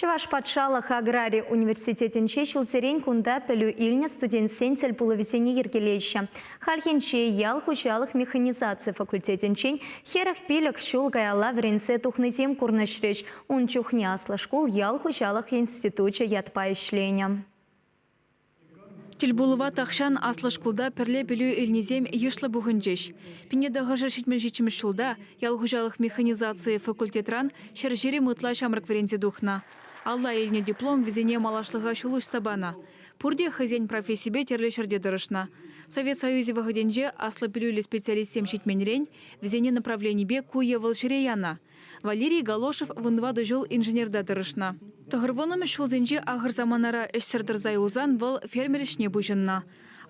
Чӑваш патшалӑх аграри университетӗнче ҫулсерен кунта пӗлӳ илнӗ студентсен тӗл пулӑвӗсене йӗркелеҫҫӗ. Хальхинче ял хуҫалӑх механизаци факультетӗнчен хӗрӗх пилӗк ҫул каялла вӗренсе тухнисем курнӑҫрӗҫ. Ун чухне аслӑ шкул ял хуҫалӑх институчӗ ятпа ӗҫленӗ. Тӗлпулӑва тахҫан аслӑ шкулта пӗрле пӗлӳ илнисем йышлӑ пухӑнчӗҫ. Пиншетахӑшӗ ҫитмӗл-ҫитмӗл ҫулта ял хуҫалӑх механизацийӗ факультетран ҫӗр ҫирӗм ытла ҫамрӑк вӗренсе тухнӑ. Алла илнӗ диплом вӗсене малашлӑха ҫул уҫса панӑ. Пурте хӑйсен профессипе тӗрлӗ ҫӗрте тӑрӑшнӑ. Совет Союзӗ вӑхӑтӗнче аслӑ пӗлӳллӗ специалистсем ҫитменрен вӗсене направленипе ку е вӑл ҫӗре янӑ. Валерий Галошев вунтӑватӑ ҫул инженерта тӑрӑшнӑ. Тӑхӑрвуннӑмӗш ҫулсенче ахӑр саманара ӗҫсӗр тӑрса юлсан вӑл фермер ӗҫне пуҫӑннӑ.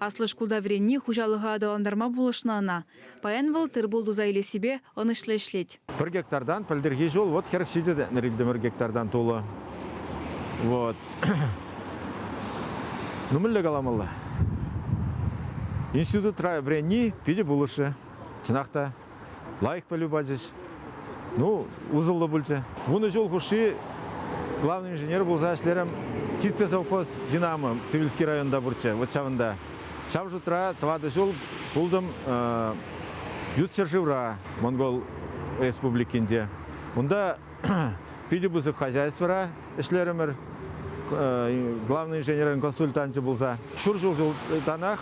Аслӑ шкулта вӗренни хуҫалӑха аталантарма пулӑшнӑ ӑна. Паян вӑл тыр-пул туса илессипе ӑнӑҫлӑ ӗҫлет. Пӗр гектартан пӗлтӗрхи ҫул вӑт хӗрӗх ҫитӗ тетнӗр иктӗмӗр гектартан тулӑ. Вот. Ну мӗнле каламалла? Институтра вӗренни питӗ пулӑшӗ. Чӑнах та. лайӑх пӗлӳ пачӗҫ. Ну, усӑллӑ пулчӗ. Вунӑ ҫул хушши главный инженер пулса ӗҫлерӗм. Птицы совхоз «Динамо» Цивильский районта пурччӗ, вот ҫавӑнта. Ҫав шутра тӑватӑ ҫул пултӑм ют ҫӗршывра, Монгол Республикинче. Унта Питӗ пысӑк хозяйствӑра ӗҫлерӗмӗр. Главный инженерин консультанчӗ пулса ҫур ҫултанах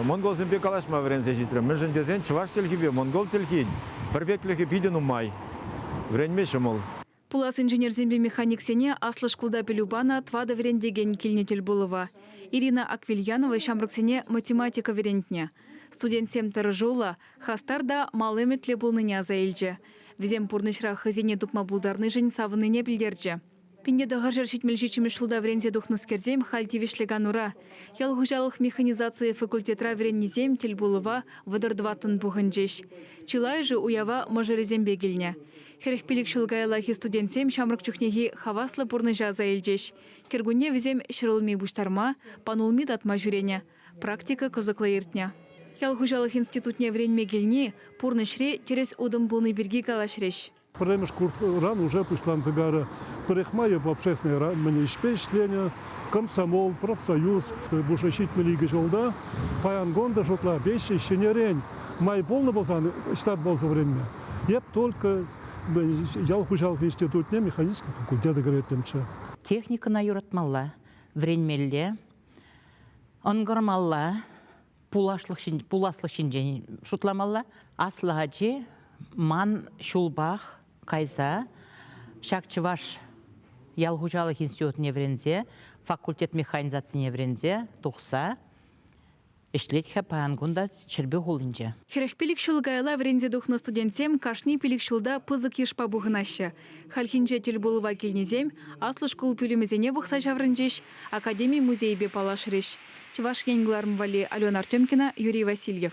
монголсемпе калаҫма вӗренсе ҫитрӗм. Мӗншӗн тесен чӑваш чӗлхипе монгол чӗлхин пӗрпеклӗхӗ питӗ нумай. Вӗренме ҫӑмӑл. Пулас инженерсемпе механиксене аслӑ шкулта пӗлӳ панӑ тӑватӑ вӗрентекен килнӗ тӗлпулӑва. Ирина Аквильянова ҫамрӑксене математика вӗрентнӗ. Студентсем тӑрӑшуллӑ, Хастар та мал ӗмӗтлӗ пулнине аса илчӗ. Вӗсем пурнӑҫра хӑйсене тупма пултарнишӗн савӑннине пӗлтерчӗ. Пинте тӑхӑрҫӗр ҫитмӗл ҫиччӗмӗш ҫулта вӗренсе тухнӑскерсем халь тивӗҫлӗ канура. Ял хуҫалӑх механизацийӗ факультетра вӗреннисем тӗлпулӑва вӑтӑр тӑваттӑн пухӑнчӗҫ. Чылайӑшӗ уява мӑшӑрӗсемпе килнӗ. Хӗрӗх пилӗк ҫул каяллахи студентсем ҫамрӑк чухнехи хаваслӑ пурнӑҫа аса илчӗҫ. Кӗркунне вӗсем ҫӗрулми пуҫтарма, панулми татма ҫӳренӗ. Практика кӑсӑклӑ иртнӗ. Ял хуҫалӑх институтне вӗренме килни пурнӑҫри тӗрӗс утӑм пулни пирки калаҫрӗҫ. Пӗрремӗш курсран уже пуҫланса кайрӗ. Парикмаев общественнӑй-мӗн ӗҫпе ӗҫленӗ, Комсомол, профсоюз пушӑ ҫитмӗл икӗ ҫулта, паян кун та шутла веҫҫӗ ҫӗнӗрен май пулнӑ пулсан ҫтат пулса вӗренме. Эп только ял хуҫалӑх институтне механический факультета кӗреттӗмччӗ. Техникӑна юратмалла, вӗренмелле, Ӑнкӑрмалла, пуласлӑх ҫинчен шутламалла. Аслӑ ачи ман ҫулпах кайса ҫак чӑваш ял хуҫалӑх институтне вӗренсе, факультет механизацине вӗренсе тухса Ӗҫлет-ха паян кунта Ҫӗрпӳ хулинче. Хӗрӗх пилӗк ҫул каялла вӗренсе тухнӑ студентсем кашни пилӗк ҫулта пысӑк йышпа пухӑнаҫҫӗ. Хальхинче тӗлпулӑва килнисем аслӑ шкул пӳлӗмӗсене пӑхса ҫаврӑнчӗҫ, академи-музейӗпе паллашрӗҫ. Чӑваш Ен кӑларӑм валли Алена Артемкина, Юрий Васильев.